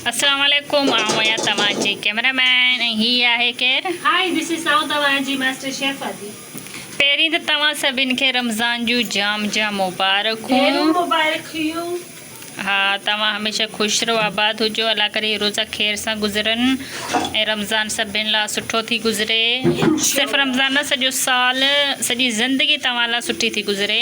اسلام عليڪم آئون آهيان توهان جي ڪيمرا مين ۽ هي آهي ڪير؟ هائي ڌس از آئون توهان جي ماسٽر شيف آدي. پهرين ته توهان سڀن کي رمضان جون جام جام مبارڪون. ڍيرون مبارڪيون. ها توهان هميشه خوش رهو آباد هجو الله ڪري هي روزا خير سان گذرن ۽ رمضان سڀن لا سٺو ٿي گذري صرف رمضان نه سڄو سال سڄي زندگي توهان لا سٺي ٿي گذري.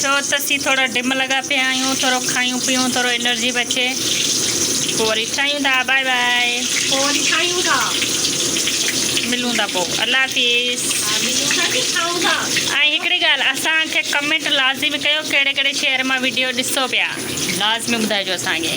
ڇو ته اسين ٿورا ڊم لڳا پيا آهيون ٿورو کائيون پيئون ٿورو انرجي بچي پوء وري ٺاهيون ٿا بائي بائي پوء وري ٺاهيون ٿا ملون ٿا پوء الله حافظ ملون ٿا ڪي ٺاهون ٿا ۽ هڪڙي ڳالهه اسان کي ڪمينٽ لازمي ڪيو ڪهڙي ڪهڙي شهر مان وڊيو ڏسو پيا لازمي ٻڌائجو اسان کي